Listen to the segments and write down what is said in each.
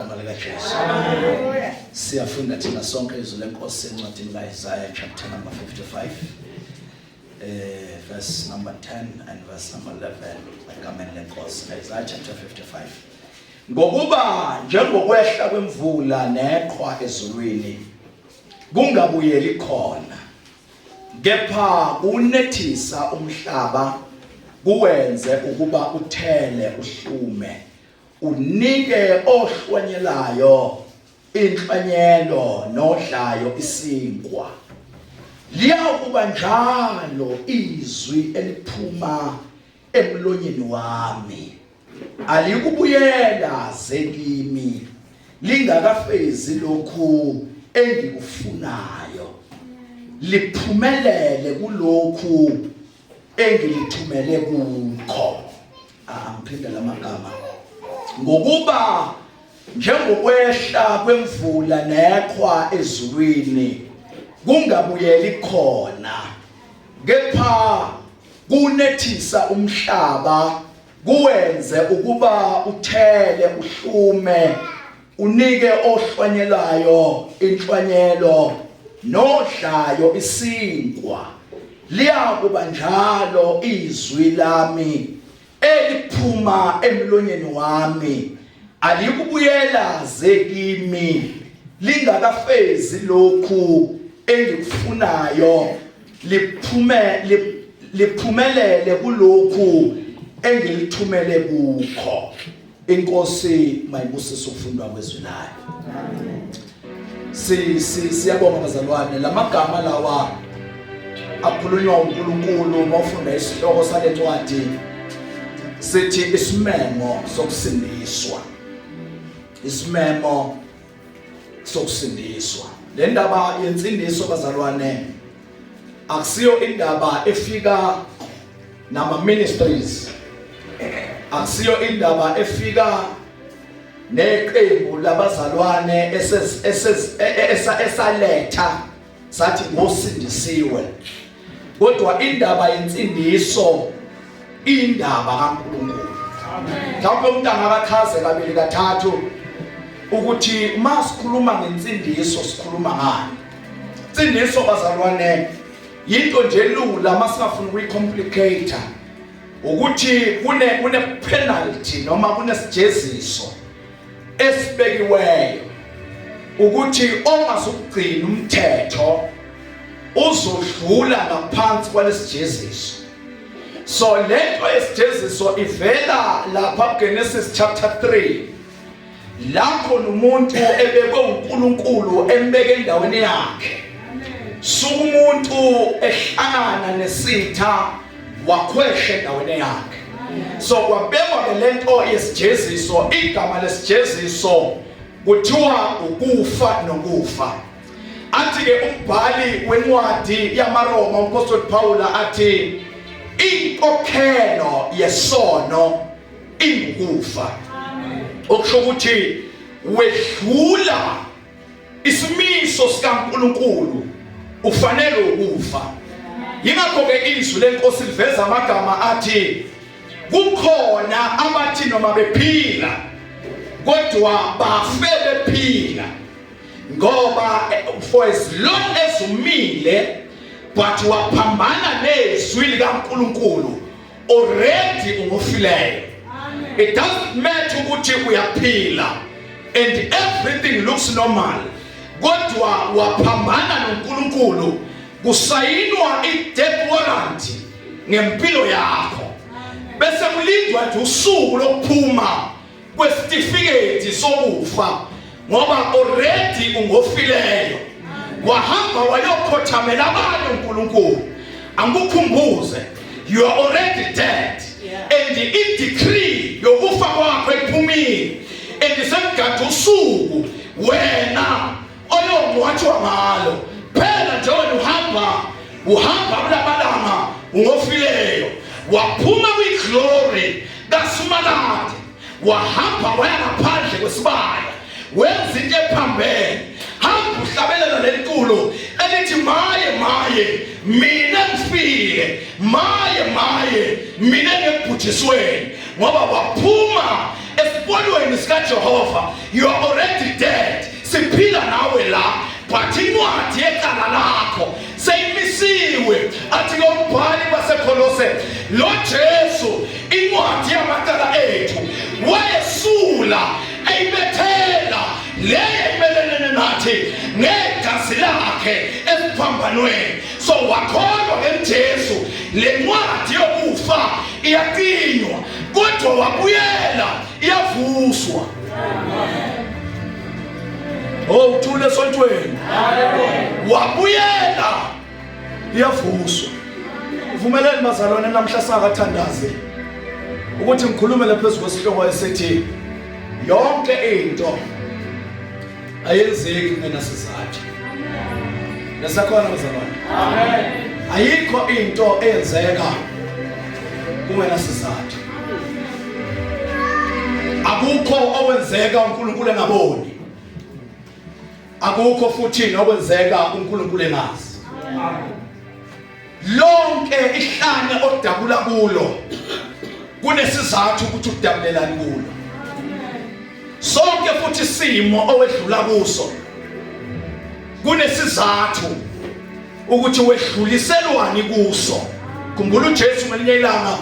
Igama likaJesu. Hallelujah. Siyafunda thina sonke izwi lenkosi encwadini kaIsaiah chapter number 55 eh verse number 10 and verse number 11 egameni lenkosi Isaiah chapter 55 Ngokuba njengokwehla kwemvula neqhwa ezulwini kungabuyeli khona kepha kunethisa umhlaba kuwenze ukuba uthele uhlume Unike ohlwanyelayo inhlwanyelo nodlayo isinkwa. Liyakuba njalo izwi eliphuma emlonyeni wami. Alikubuyela zekimi lingakafezi lokhu engikufunayo. Liphumelele kulokhu engilithumele kukho. Angiphinde la magama ngokuba njengokwehla kwemvula nekhwa ezulwini kungabuyeli khona kepha kunethisa umhlaba kuwenze ukuba uthele uhlume Unike ohlwanyelayo inhlwanyelo nodlayo isinkwa liyakuba njalo izwi lami eliphuma emlonyeni wami alikubuyela zekimi lingakafezi lokhu engikufunayo liphume liphumelele kulokhu engilithumele kukho Inkosi mayibusise ukufundwa kwezwi layo. Amen. Si si siyabonga bazalwane lamagama lawa akhulunywa uNkulunkulu mawufunda isihloko sale ncwadi sithi isimemo sokusindiswa. Isimemo sokusindiswa le ndaba yensindiso bazalwane akusiyo indaba efika nama ministries akusiyo indaba efika neqembu labazalwane esaletha sathi ngosindisiwe kodwa indaba yensindiso indaba kaNkulunkulu mhlawumbe umuntu angakachaze kabili kathathu ukuthi uma sikhuluma ngensindiso sikhuluma ngani insindiso bazalwane yinto nje lula uma singafuni ukuyicomplicate ukuthi kune kune penalty noma kunesijeziso esibekiweyo ukuthi ongasukugcina umthetho uzodlula ngaphansi kwalesijeziso so lento yesijeziso ivela lapha kuGenesis chapter 3 lapho nomuntu ebekwe uNkulunkulu embeke endaweni yakhe sukumuntu ehlangana nesitha wakhwesha endaweni yakhe so kwabekwa ke lento yesijeziso igama lesijeziso kuthiwa ukufa nokufa athi ke umbhali wencwadi yamaRoma umpostoli Paul athi inkokhelo yesono ingukufa okusho ukuthi wedlula Isimiso sikaNkulunkulu ufanele ukufa. Yingakho-ke izwi lenkosi liveza amagama athi kukhona abathi noma bephila kodwa bafe bephila ngoba eh, for as long as umile but waphambana nezwi likaNkuluNkulu already ungofileyo it doesn't matter ukuthi uyaphila and everything looks normal kodwa waphambana noNkulunkulu kusayinwa i-death warrant ngempilo yakho bese kulindwa nje usuku lokuphuma kwesitifiketi sokufa ngoba already ungofileyo wahamba wayokhothamela abantu uNkulunkulu angikukhumbuze you are already dead and i decree yokufa kwakho ephumile and semgade usuku wena oyongcwatshwa ngalo phela nje wena uhamba uhamba kulamalanga ungofileyo waphuma kwi-glory kasumalade wahamba waya ngaphandle kwesibaya wenza into ephambene hamba uhlabelela lentulu elithi maye maye mina ngifile maye maye mina ngebhujisweni ngoba waphuma esikolweni sikajehova you are already dead siphila nawe la but incwadi yecala lakho seyimisiwe athi kombhali basekolose lo jesu incwadi yamacala ethu wayesula eyibethela le emelelene nathi negazi lakhe esiphambanweni so wakholwa ngemjesu le ncwadi yokufa iyaqinywa kodwa wabuyela iyavuswa oh uthule esontweni wabuyela iyavuswa vumeleni bazalwane namhla sakathandaze ukuthi ngikhulume laphezu kwesihloko esithi yonke into ayenzeki kungenasizathu nesakhona bazalwane amen ayikho into eyenzeka kungenasizathu akukho okwenzeka uNkulunkulu engaboni akukho futhi nokwenzeka uNkulunkulu engazi amen lonke ihlane odabula kulo kunesizathu ukuthi udabulelani kulo sonke futhi isimo owedlula kuso kunesizathu ukuthi wedluliselwani kuso khumbula uJesu ngelinye ilanga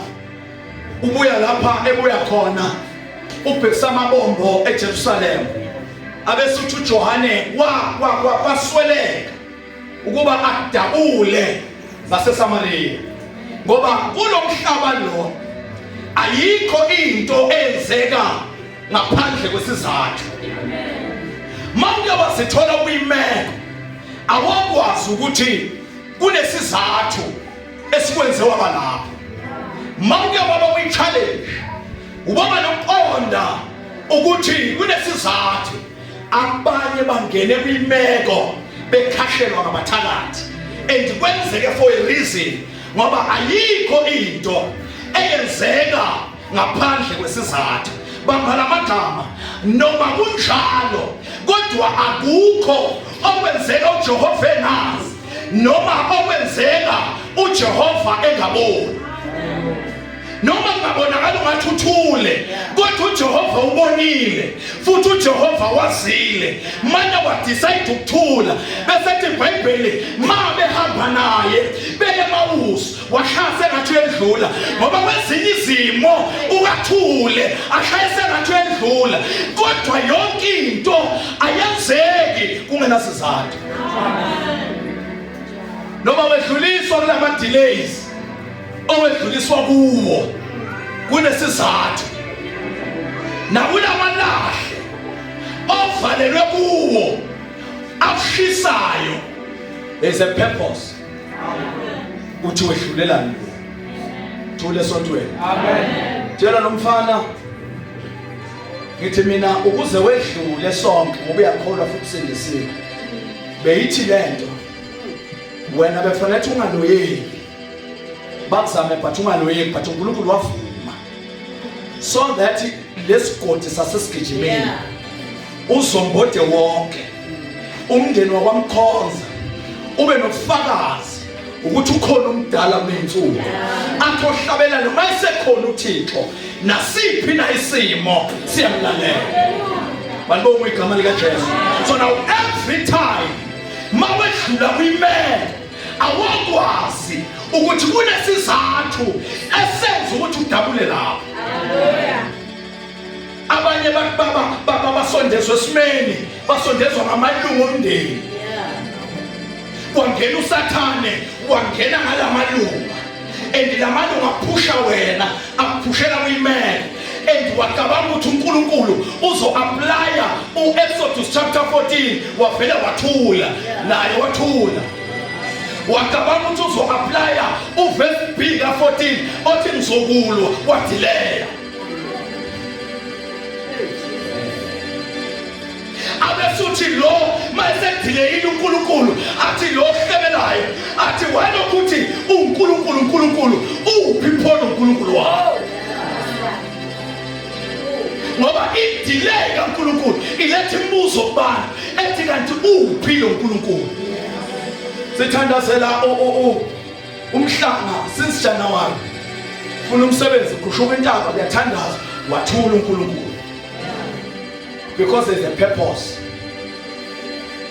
ubuya lapha ebuya khona ubhekisa amabombo eJerusalema abese uthi uJohane wa kwasweleka ukuba akudabule zaseSamariya ngoba kulo mhlaba lo ayikho into eyenzeka ngaphandle kwesizathu manje wasithola kuyimeko awakwazi ukuthi kunesizathu esikwenze waba lapho manje waba kwi-challenge ubaba nokuqonda ukuthi kunesizathu abanye bangene kwimeko bekhashelwa ngabathakathi and kwenzeke for a reason ngoba ayikho into eyenzeka ngaphandle kwesizathu bamba lamagama noma kunjalo kodwa akukho okwenzeka uJehova enazi noma okwenzeka uJehova engaboni noma kungabonakala ungathi uthule kodwa uJehova ubonile futhi uJehova wazile manje wadecide ukuthula bese ethi iBhayibheli ma behamba naye beye mawusu washayise ngathi uyedlula ngoba kwezinye izimo ukathule ashayise ngathi uyedlula kodwa yonke into ayenzeki kungenasizathu noma wedluliswa kulama delays owedluliswa kuwo kunesizathu nakulamalahle ovalelwe kuwo akushisayo there's a purpose uthi wehlulelani thule sontweni amen tshela lomfana ngithi mina ukuze wedlule sonke ngoba uyakholwa futhi sindisiwe beyithi lento wena befanele ukuthi ungaloyeki bakuzame but ungaloyeki but uNkulunkulu wavuma so that lesigodi sasesigijimini uzombode wonke umndeni wakwamkhonza ube nobufakazi ukuthi ukhona umdala kunensuku athi ohlabelane uma esekhona uthixo nasiphi na isimo siyamlalela balibonga igama likajesu so now every time ma wedlula kwimele awakwazi ukuthi kunesizathu esenza ukuthi udabule lapho abanye baba basondezwa esimeni basondezwa ngamalungu omndeni kwangena usathane wangena ngalamalunga and lamalunga aphusha wena akuphushela kuyimele and wacabanga ukuthi uNkulunkulu uzo-aplaya u-Exodus chapter 14 wavele wathula naye wathula wacabanga ukuthi uzo-aplaya uvesi b ka-14 othi ngizokulwa wadileya abesuthi lo mayesedileyile uNkulunkulu athi lo ohlebelayo athi walokuthi uNkulunkulu uNkulunkulu uphi pho uNkulunkulu wawo ngoba idelay kaNkulunkulu iletha imibuzo kubani ethi kanti uphi lo uNkulunkulu sithandazela umhlanga since January funa umsebenzi uqhushuka intaba kuyathandaza wathula uNkulunkulu because there's a purpose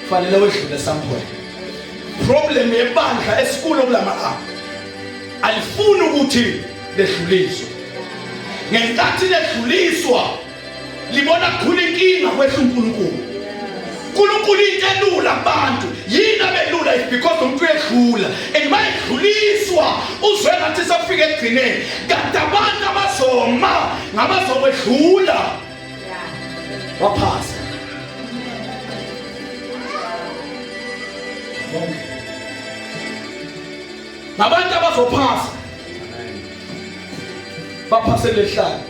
fanele wedlule somewhere problem yebandla esikulo kulamalanga alifuni ukuthi ledluliswe ngenkathi ledluliswa libona kukhulu inkinga kwethu uNkulunkulu uNkulunkulu into elula abantu yini abelula is because umuntu uyedlula and mayedluliswa uzwe ngathi safika ekugcineni kanti abantu abazoma ngabazokwedlula waphasa ngabantu abazophasa baphasele ehlane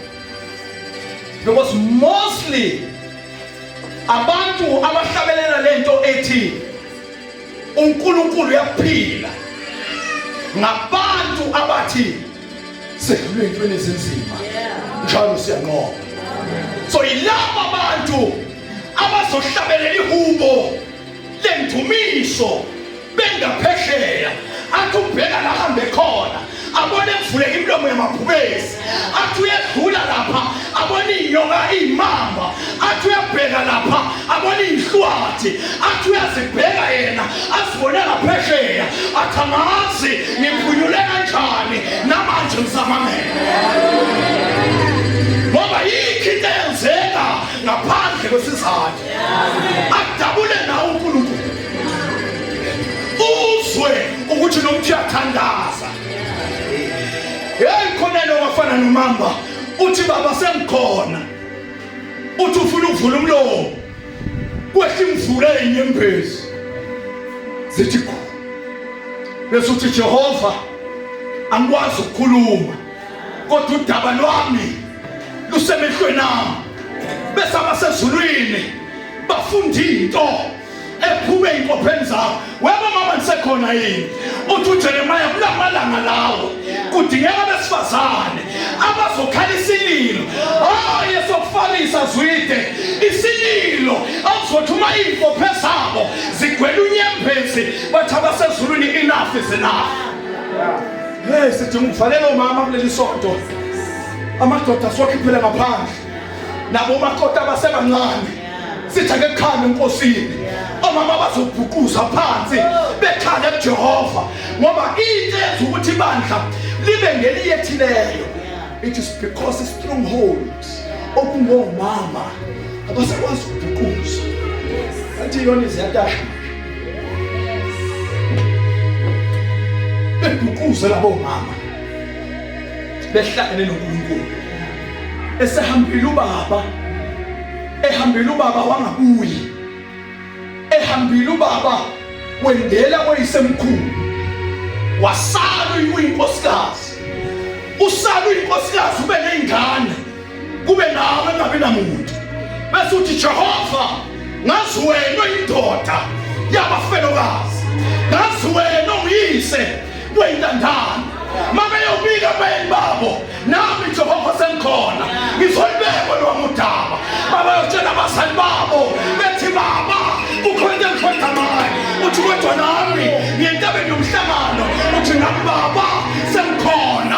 because mostly abantu abahlabelela lento ethi uNkulunkulu uyaphila ngabantu abathi sedlule entweni ezinzima njalo siyanqoba so yilabo abantu abazohlabelela ihubo lendumiso bengaphesheya athi ubheka la hambe khona abone kuvuleka imilomo yamabhubesi athi uyedlula lapha abone iy'nyoka iy'mamba athi uyabheka lapha abone iy'hlwathi athi uyazibheka yena azibone ngaphesheya athi angazi ngiphunyule kanjani namanje ngisamamele ngoba yikho into eyenzeka ngaphandle kwesizathu ajabule nawe uNkulunkulu uzwe ukuthi nomthi athandaza hey khona lo wafana nomamba uthi baba sengikhona uthi ufuna ukuvula umlomo kwehla imvula enyembezi zithi khona bese uthi Jehova angikwazi ukukhuluma kodwa udaba lwami lusemehlweni ami bese abasezulwini bafunda into ephume ey'nkopheni zabo weba mama ndisekhona yini uthi ujeremiya kulamalanga lawo kudingeka abesifazane abazokhala isililo hayi esokufanisa zwide isililo akuzothi uma iy'nkophe zabo zigwela unyembezi bathi abasezulwini inafi zinafi Hey sidinga ukuvalela omama kuleli sonto. Amadoda siwakhiphele ngaphandle. Nabo makota abasebancane. Sithake kukhanda enkosini. Omama bazobhuquza phansi bekhale kuJehova ngoba into yenza ukuthi ibandla libe ngeliyethileyo. It is because strongholds okungomama abasakwazi ukubhuquza. Athi yona iziyatasha. beguquze labo mama behlangene noNkulunkulu esehambile ubaba ehambile ubaba wangabuyi ehambile ubaba wendela koyisemkhulu wasala uyinkosikazi usala uyinkosikazi ube nezingane kube nawe engabi namuntu bese uthi jehova ngazi wena indoda yabafelokazi ngazi wena ungiyise weyintandane mabeyobika bayeni babo nami jehova sengikhona ngizoyibekwa lwami udaba babayotshela abazali babo bethi baba kukhona into engikhonza ngayo uthi kodwa nami ngiyentabeni yomhlangano uthi nami baba sengikhona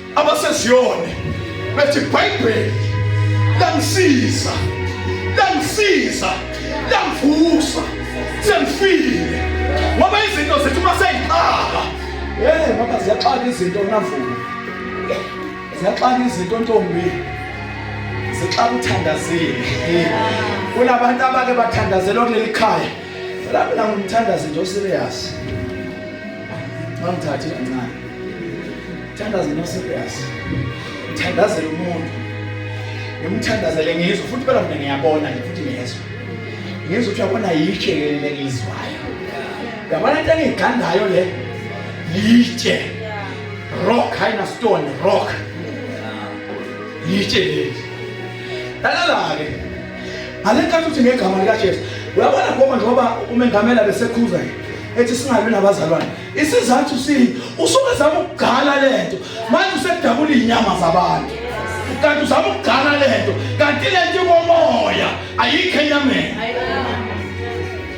abaseziyone bethi ibhayibheli langisiza langisiza langivusa sengifile ngoba izinto zethu uma seyixaka hey ngoba ziyaxaka izinto navuka ziyaxaka izinto ntombi zixaka uthandazile kunabantu abake bathandazelwa kuleli khaya lapho la ngumthandazi nje oserious ngangithathi kancane Thandazela serious. Thandazela umuntu. Ngimthandazele ngizwe futhi phela mina ngiyabona nje futhi ngiyezwa. Ngizwe ukuthi yabona yitshe leli ngizwayo. Yabona into engigandayo le. Yitshe. Rock haina stone rock. Yitshe leli. Lalala ke. Alenkathi uthi ngegama likaJesu. Uyabona ngoba njengoba umengamela besekhuza ethi singabi nabazalwane. isizathu sini usuke zama ukugcala lento manje usedabula inyama zabantu kanti uzama ukugcala lento kanti lento ikomoya ayikho enyameni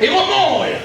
ikomoya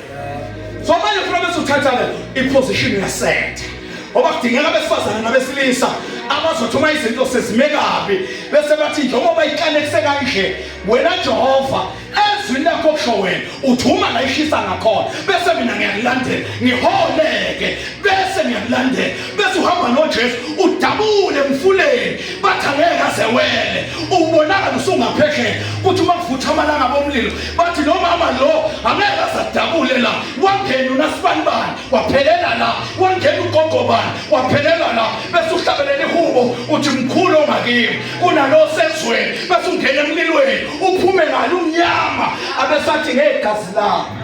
so manje funa bese uthatha le iposition yasetha ngoba kudingeka abesifazane nabesilisa abazothi uma izinto sezime kabi bese bathi njengoba ikanekise kanje wena jehova ezwini lakho kusho wena uthi uma ngayishisa ngakhona bese mina ngiyakulandela ngiholeke bese ngiyakulandela bese uhamba nojesu udabule emfuleni bathi angeke aze wele ubonakala usungaphesheya kuthi uma kuvutha amalanga bomlilo bathi lo mama lo angeke aze adabule la wangena unasibani bani waphelela la wangena ugogo bani waphelela la bese uhlabelele ihubo uthi mkhulu ongakimi kunalo sezweni bese ungena emlilweni uphume ngalo umnyama abesathi ngegazi lami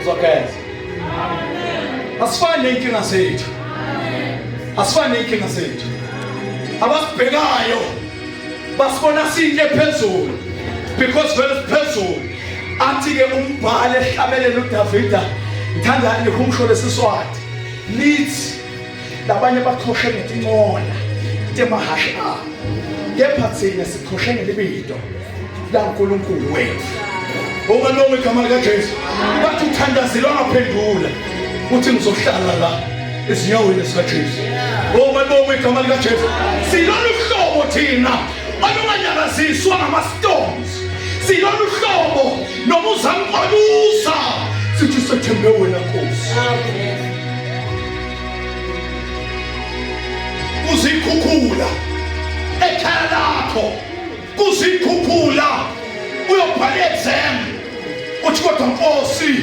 uzokwenza asifani nenkinga zethu asifani nenkinga zethu abasibhekayo basibona siyinto ephezulu because vele siphezulu athi-ke umbhali ehlabelela udavida ngithanda ngikhumsho lesiswati lithi labanye baqhoshe ngetincola temahhashi abo kepha thina siqhoshe ngelibito lankulunkulu wethu ongalonga igama likajesu bathi uthandazile wangaphendula uthi ngizohlala la ezinyaweni zikajesu ongalonga igama likajesu silolu hlobo thina olunganyakaziswa ngama-stones silolu hlobo noma uzamqoluza sithi sethembe wena nkosi kuzikhukhula ekhaya lakho kuzikhukhula uyobhala i-exam uthi kodwa nkosi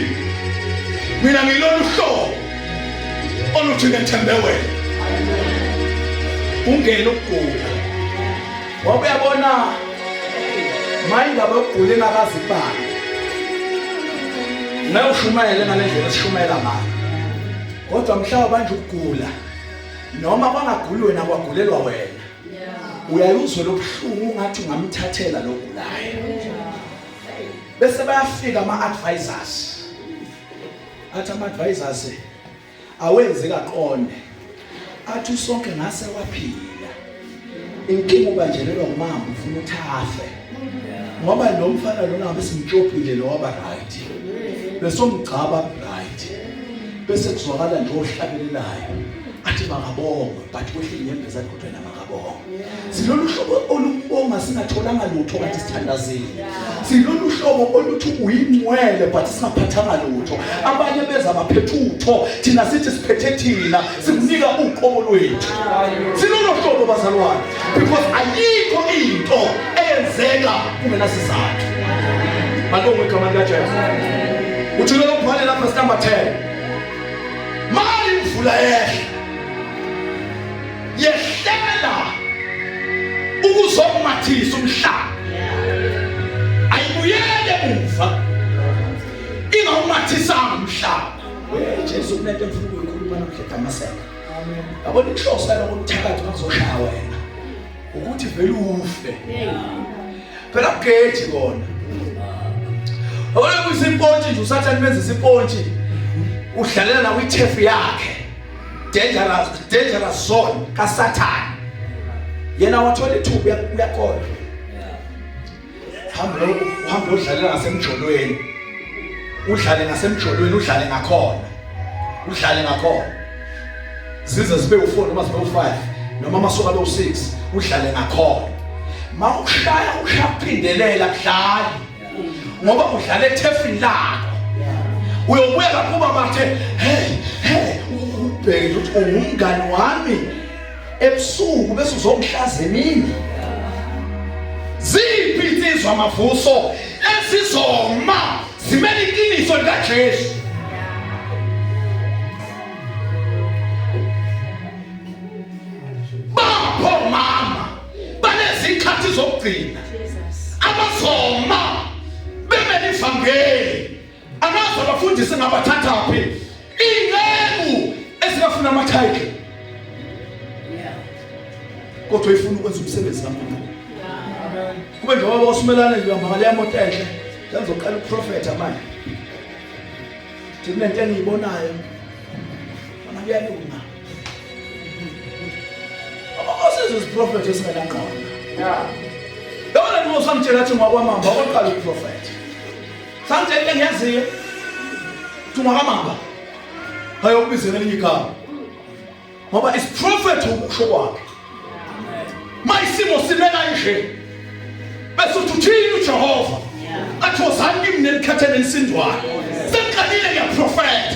mina ngilolu hlobo oluthi ngethembe wena ungena ukugula ngoba uyabona mayindaba yokugula engakazi kubani ngeke ushumayele ngale ndlela esishumayela ngayo kodwa mhlawumbe banje ukugula noma kwangaguli wena kwagulelwa wena uyayuzwe lobuhlungu ungathi ungamthathela logulayo bese bayafika ama-advisors athi ama-advisors awenzi kaqonde athi usonke ngase waphila inkinga ubanjelelwa umama ufuna uthafe ngoba lo mfana lona ngabe simtshopile lo waba right besomgcaba right bese kuzwakala nje ohlabelelayo athi makabonga but kwehle inyembeza kodwa Siyabonga. Silolu hlobo olubonga singatholanga lutho kanti sithandazile. Silolu hlobo oluthi uyingcwele but singaphathanga lutho. Abanye beza baphethe utho, thina sithi siphethe thina, sikunika uqobo lwethu. Silolu hlobo bazalwane because ayikho into eyenzeka kungenasizathu. Malungu igama likaJesu. Uthi lo ubhale lapha sitamba 10. Mali imvula yehle. yehlela ukuzokumathisa umhlaba ayibuyele umva ingawumathisanga umhlaba Jesu kunento efuna ukuyikhuluma namhla edamaseka yabona inhloso yaloko kuthakathi bakuzoshaya wena ukuthi vele ufe phela kugeji kona yabona kuyisimpontshi nje usathane benza isipontshi udlalela nawo ithefu yakhe dangerous dangerous zone kasathane yena wathola ithuba uyakona hamba lo hamba udlalela ngasemjolweni udlale ngasemjolweni udlale ngakhona udlale ngakhona zize sibe u4 noma sibe u5 noma amasuka lo 6 udlale ngakhona mawushaya ushaphindelela kudlali ngoba udlala ethefini lakho uyobuya lapho babathe hey hey ubheke ukuthi ungumngani wami ebusuku bese uzongihlaza emini ziphi insizwa amavuso esizoma zimele iqiniso likaJesu banezikhathi zokugcina abazoma bemele ivangeli anazi abafundisi ngabathathaphi inceku esingafuna amathayitle kodwa ifuna ukwenza umsebenzi kaNkulunkulu kube njengoba basumelana nje uhamba ngaleya moto enhle sengizoqala ukuprofetha manje thina into engiyibonayo ona kuyalunga uprofethi esingenangqondo yabona nto usamtshela athi ngwakwamamba okoqala uprofethi samtshela into engiyaziyo ukuthi ngwakwamamba ayokubizela elinye igama ngoba isiprofethi ukusho kwakhe mayisimo sime kanje bese uthi uthini uJehova athi wozani kimi nelikhathele lisindwayo sengiqalile ngiyaprofeta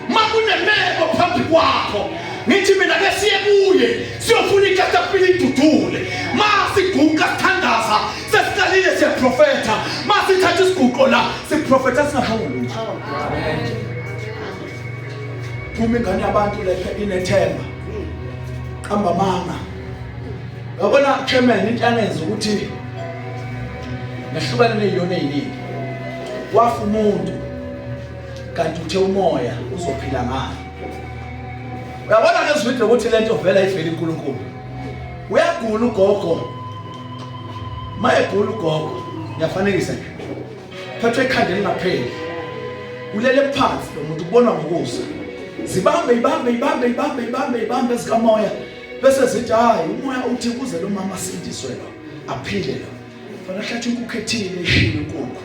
makunemeko phambi kwakho ngithi mina ke siye kuye siyofuna ikatapile idudule masiguqa sithandaza sesiqalile siyaprofetha masithatha isiguqo la siprofetha singahawuli nje phuma ingane yabantu lephe inethemba qamba manga yabona chairman into anenza ukuthi nahlukane neziyona eziningi wafa umuntu kanti uthe umoya uzophila ngayo uyabona ke zwidle ukuthi lento vela ivela inkulunkulu uyagula ugogo mayegula ugogo ngiyafanekisa nje phathwe ikhanda elingapheli ulele phansi lo muntu ubonwa ngokusa zibambe ibambe ibambe ibambe ibambe ibambe ezikamoya bese zithi hayi umoya uthi kuze lo mama asindiswe lo aphile lo fana hlatha inkukhu ethile ishile inkukhu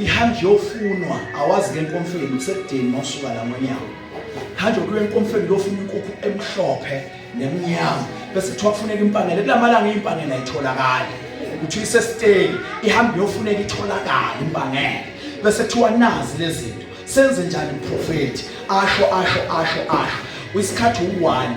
ihamba yofunwa awazi ke enkomfeni usekudini mawusuka la ngonyawo hamba kuyo enkomfeni yofuna inkukhu emhlophe nemnyama bese kuthiwa kufuneka impanela kulamalanga impanela itholakala ukuthi isesiteki ihambe yofuneka itholakala impanela bese kuthiwa nazi lezinto senze njani umprofeti asho asho asho asho isikhathi u1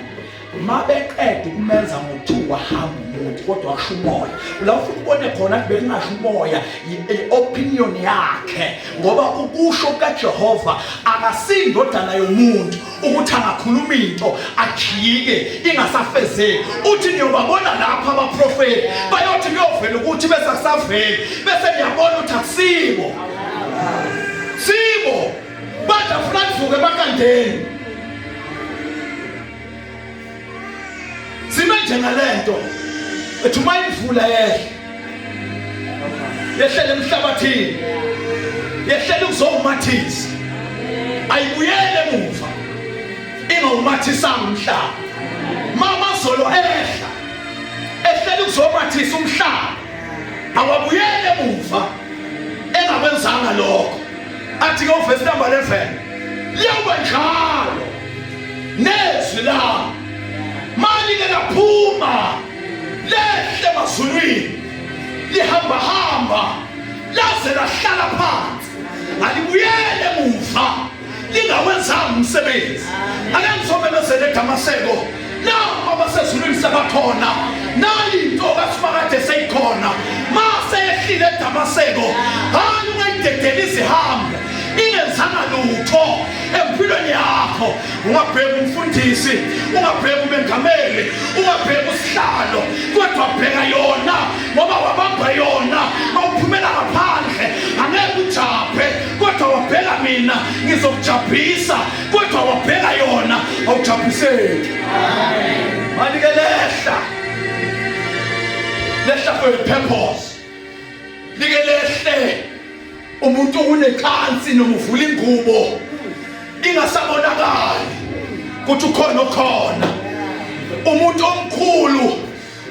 mabeqeda ukumenza ngo2 wahamba umuntu kodwa washo umoya la ufuna ubone khona kube kungasho umoya i-opinion yakhe ngoba ukusho kaJehova akasindodana yomuntu ukuthi angakhuluma into ajike ingasafezeki uthi niyobabona lapha abaprofeti bayothi kuyovela ukuthi bese kusaveli bese niyabona ukuthi akusibo sibo badla funa kuvuke emakandeni sime njengalento ethi uma imvula yehle yehlele emhlabathini yehlele ukuzowumathisa ayibuyele emuva ingawumathisanga umhlaba mama zolo ehla ehlele ukuzomathisa umhlaba awabuyele emuva engakwenzanga lokho athi ke uvesi number 11 liyawuba njalo nezwi lami malike laphuma lehle emazulwini lihambahamba laze lahlala phansi alibuyele emuva lingawenzanga umsebenzi ake ngizomemezela edamaseko Nabo abasezulwini sebakhona. Nayi into kaSimakade seyikhona. Mase ehlile eDamaseko. Hayi ungayidedela izihambe. Ingenzanga lutho empilweni yakho. Ungabheka umfundisi, ungabheka umengameli, ungabheka usihlalo, kodwa bheka yona ngoba wabamba yona awuphumela ngaphandle. Angeke ujabhe kodwa wabheka mina ngizokujabhisa. kodwa wabheka yona awujabhiseki manje ke lehla lehla for a purpose like lehle umuntu unekhansi noma uvula ingubo ingasabonakali ukuthi ukhona okhona umuntu omkhulu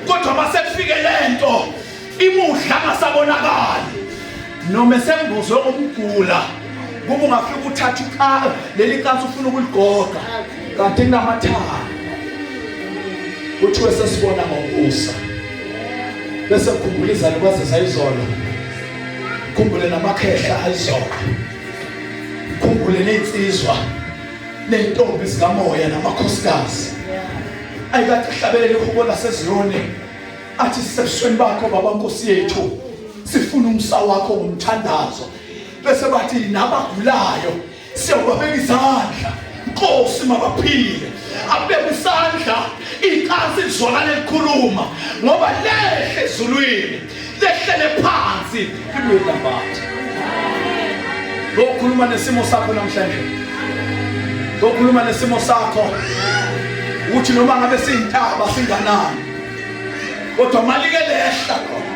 kodwa masekufike lento imudla ngasabonakali noma esembuzwe umgula kuba ungafika uthatha ikhala leli kansi ufuna ukuligoqa kanti kunamathanga kuthiwe sesibona ngokusa bese khumbula izalo kwaze sayizolo khumbule namakhehla ayizolo khumbule ney'nsizwa ney'ntombi zikamoya namakhosikazi ayikade hlabele lihubo laseziyoni athi sisebusweni bakho baba nkosi yethu sifuna umsa wakho ngomthandazo bese bathi nabagulayo siyobabeka izandla nkosi mabaphile abeke isandla ikhasi lizwakala likhuluma ngoba lehle ezulwini lehlele phansi ibuye manje ngokhuluma nesimo sakho namhlanje ngokhuluma nesimo sakho uthi noma ngabe siyintaba singanani kodwa malike lehla khona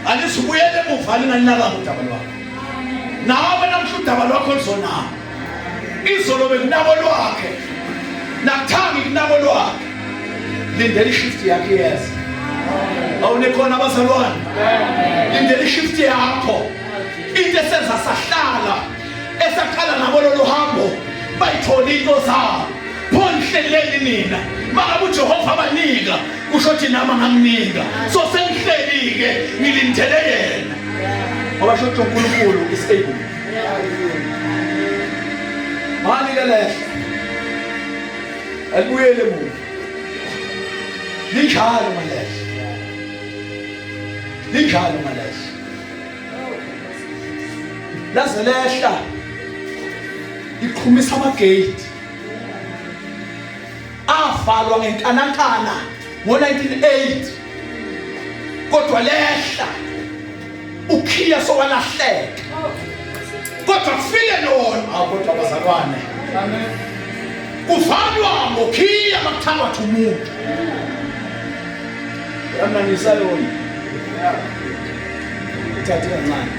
alisibuyele emuva lingalinakanga udaba lwakho nawe namhla udaba lwakho luzonabo izolo bekunabo lwakhe nakuthangi kunabo lwakhe lindela ishift yakhe yeza awunekhona abazalwane lindela ishift yakho into esenza sahlala esaqala nabo lolu hambo bayithole into zabo pho nihleleni nina makabe ujehova abanika kusho ukuthi nami angamnika so sengihlelike ngilindele yena ngoba sho ukuthi uNkulunkulu is able mani ke lehle alibuyele muva linjalo malehle linjalo malehle laze lehla iqhumisa amagate avalwa ngenkanankana ngo-1980 kodwa lehla ukhiya sowalahleka kodwa kufike lona ah, kodwa bazalwane kuvalwa ngokhiya makuthangathi umuntu yananisa yona ithathe kancane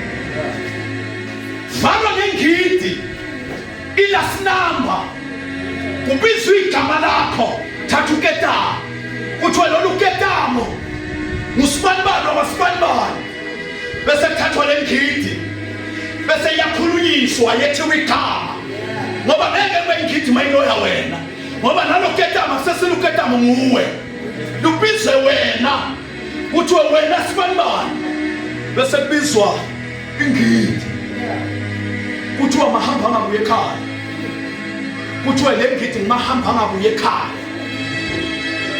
valwa ngengidi ilasinamba kubizwa igama lakho thatha uketamo kuthiwa lolu ketamo ngusibanibani wakasibanibani bese kuthathwa le ngidi bese iyakhulunyiswa yethiwa igama ngoba ngeke kube ngidi mayiloya wena ngoba nalo ketamo sesiluketamo nguwe lubizwe wena kuthiwe wena sibanibani bese kubizwa ingidi kuthiwa mahamba angabuye ekhaya kuthiwe le ngidi ngimahamba angabuye ekhaya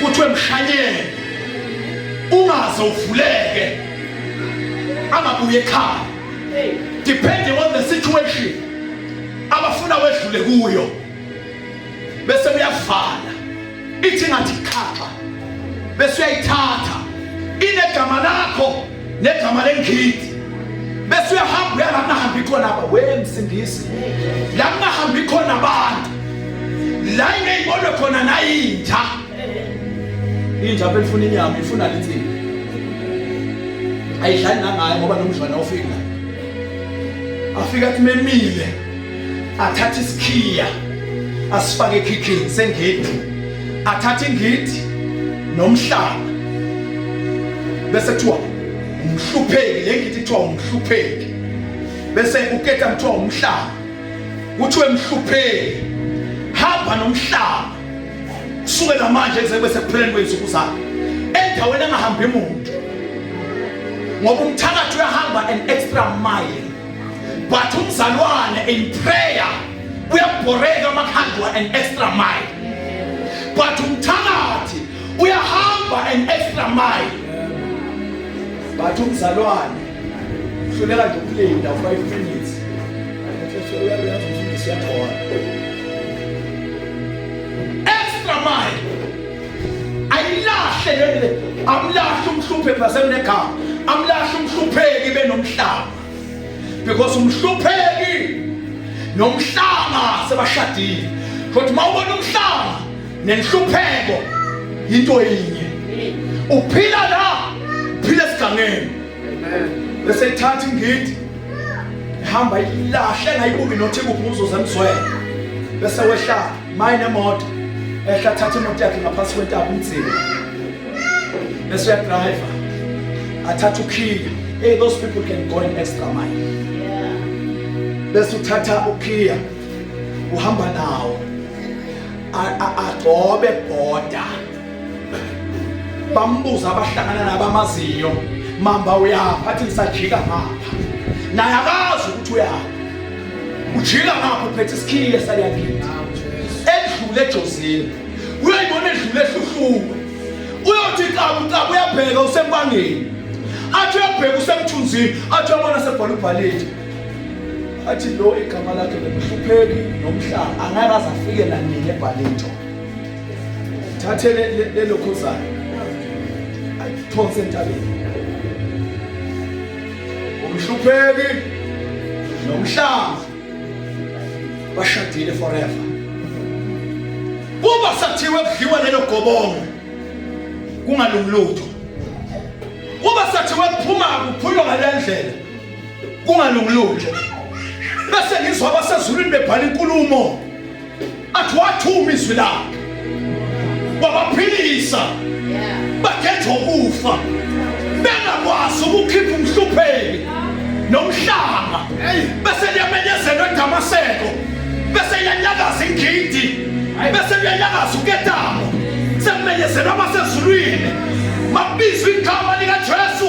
kuthiwe mshanyele ungaze uvuleke angabuye ekhaya depending on the situation abafuna wedlule kuyo bese uyavala ithi ngathi xhaxha bese uyayithatha inegama lakho negama lengidi bese uyahamba uya lakungahambi khona aba we msindisi lakungahambi khona abantu la ingeyibonwe khona nayinja inja belifuna inyama ifuna linsini ayidlali nangayo ngoba nomdlwana ofika afika athi memile athathe isikhiya asifake ekhikhini sengidi athathe ingidi nomhlaba bese kuthiwa umhlupheki le ngidi kuthiwa umhlupheki bese uketa kuthiwa umhlaba kuthiwe mhlupheki hamba nomhlaba kusukela manje kuze kube sekupheleni kwezinsuku zakhe endaweni engahambi muntu ngoba umthakathi uyahamba an extra mile but umzalwane in prayer uyabhoreka amakhandwa an extra mile but umthakathi uyahamba an extra mile but umzalwane uhluleka nje ukulinda u-five minutes siyakhona extra mile ayilahle lele amlahle umhluphe basemnegama amlahle umhlupheki benomhlaba because umhlupheki nomhlanga sebashadile kodwa uma ubona umhlanga nenhlupheko into yinye uphila la uphila esigangeni bese ithatha ingidi ihamba ilahle ngayibuki nothi kuphi uzoza emzwela bese wehla mayine moto ehla thatha imoto yakhe ngaphansi kwentaba umdzini bese uyadriver athatha ukhiya hey those people can go an extra mile bese uthatha ukhiya uhamba nawo agcobe boda bambuza abahlangana nabo amazinyo mamba uyapha athi ngisajika ngapha naye akazi ukuthi uyapha ujika ngapha uphethe isikhiye saliyakini edlule ejozini uyayibona edlule ehluhluke uyothi qabu qabu uyabheka usempangeni athi uyabheka usemthunzini athi uyabona sebhola ubhalile athi lo igama lakhe lemhlupheki nomhlaba angeke aze afike nanini ebhalinto thathe lelokhuzana ayiphonse entabeni umhlupheki nomhlaba bashadile forever uma sathiwe kudliwa lelo gobongo kungalungilutho uma sathiwe kuphuma kuphulwa ngalendlela kungalungilutho bese ngizwa abasezulwini bebhala inkulumo athi wathuma izwi lakhe wabaphilisa bakhetha ukufa bengakwazi ukukhipha umhlupheki nomhlanga bese liyamenyezelwa edamaseko bese iyanyakaza ingidi bese liyanyakaza uketamo sekumenyezelwa amasezulwini mabizwa igama likajesu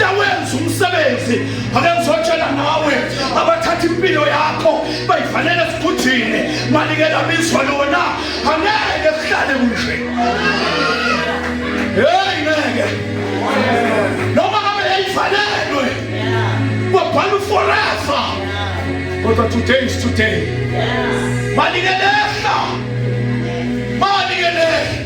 yawenza umsebenzi ake ngizotshela nawe abathatha impilo yakho bayifanele esigujini malike labizwa lona angeke kuhlale kunje heyi ngeke noma ngabe yayifanelwe kwabhala uforever kodwa today is today malike lehla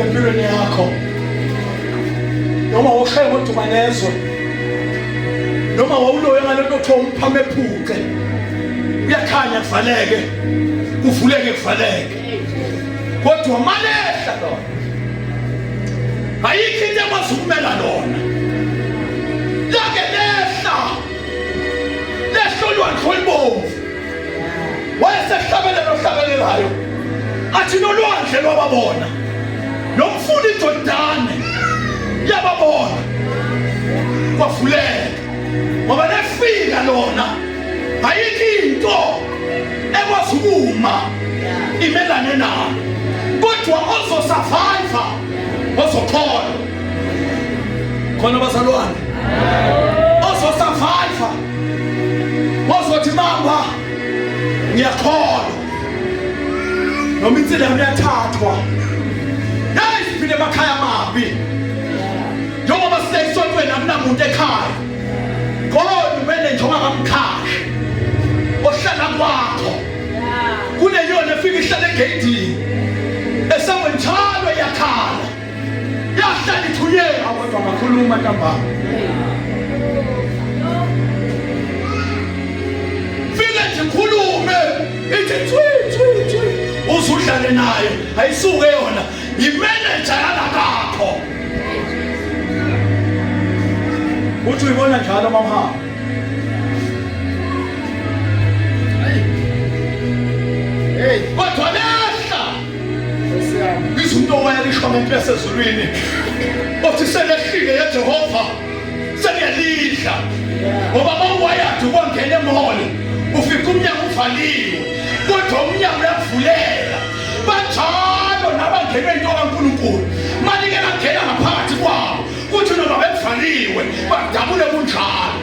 empilweni yakho noma wawushaye ngodumanezwe noma wawuloye ngale nto kuthiwa umphama ephuce kuyakhanya kuvaleke kuvuleke kuvaleke kodwa malehla lona ayikho into ekwazi ukumela lona lake lehla lehla olwandle olubomvu wayesehlabelela ohlabelelayo athi nolwandle lwababona nomfula ijordane yababona kwavuleka ngoba lefika lona ayikho into ekwazi ukuma imelane nayo kodwa ozosurviva ozokhona khona bazalwane ozosurviva wazothi mama ngiyakholwa noma insila yami yathathwa nayi siphile emakhaya amabi njengoba siseyisontweni akunamuntu ekhaya kodwa kumele nje ungakamkhashi ohlala kwakho kuneyona efika ihlale egeyidini esangweni njalo yakhala yahlala ithuye akodwa ngakhuluma ntambama fike nje khulume ithi thwi thwi thwi uzudlale naye ayisuke yona yimeneja yalakakho uthi uyibona njalo mamhamba Hey, kodwa lehla izwi into wayalisho ngento yasezulwini othi selehlile yejehova seliyalidla ngoba mawuwayadi ukwangena emholo ufika umnyango uvaliwe kodwa umnyango uyavulela banjalo nabangenwe into kankulunkulu manike bangena ngaphakathi kwabo kuthi noma bevaliwe badabule kunjalo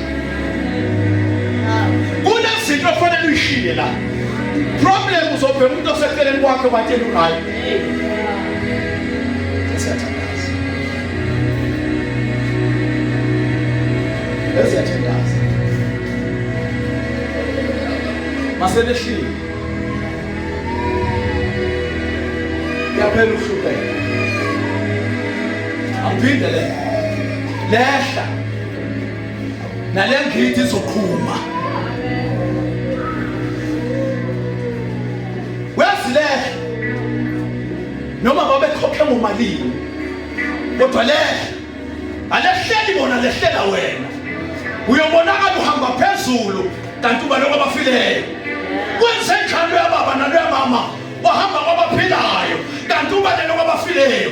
kunezinto ofanele uyishiye la problem uzobheka umuntu oseceleni kwakhe watshela uhayi eziyathandaza masebehlile yaphela uhluphe angiphinde le lehla nale ngidi izoqhuma wezilele noma babekhokhe ngomalini kodwa le alehleli bona lehlela wena uyobonakala uhamba phezulu kanti uba lokho abafileyo kwenze njalo yababa nalo yamama wahamba kwabaphilayo kanti uba lelo kwabafileyo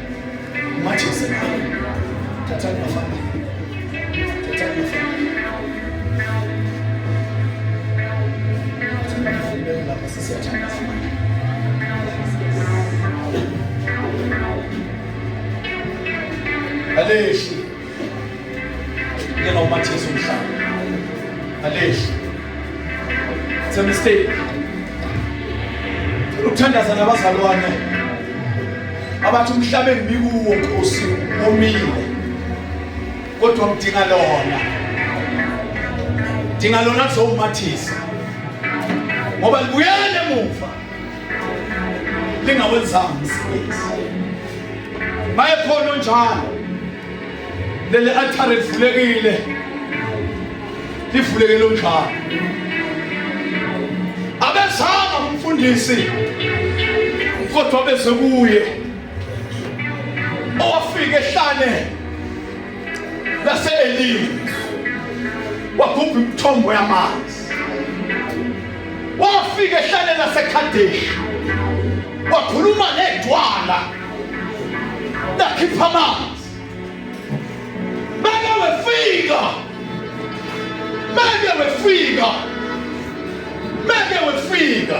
Aleshi. Ngena umathisa umhlaba. Aleshi. It's a mistake. Uthandaza nabazalwane. Abathi umhlaba engibikuwo Nkosi omile. Kodwa ngidinga lona. Dinga lona kuzomathisa. Ngoba libuyele emuva. lingawenzanga umsebenzi mayekhona onjalo leli altare livulekile livulekile onjalo abezanga umfundisi kodwa beze kuye owafika ehlane lase-elimu wagubha imithombo yamanzi wafika ehlane lasekhadeshi wakhuluma nedwala lakhipha amanzi meke wefika meke wefika meke wefika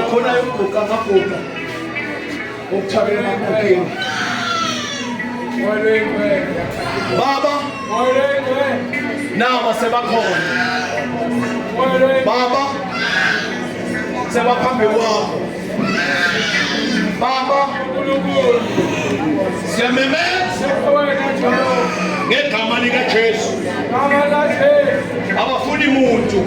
ukhona yokuguqa amaguqa okuthabela amagqokeni baba nawa sebakhona baba sebaphambi kwakho baba siyamemeza ngegama likajesu abafuni muntu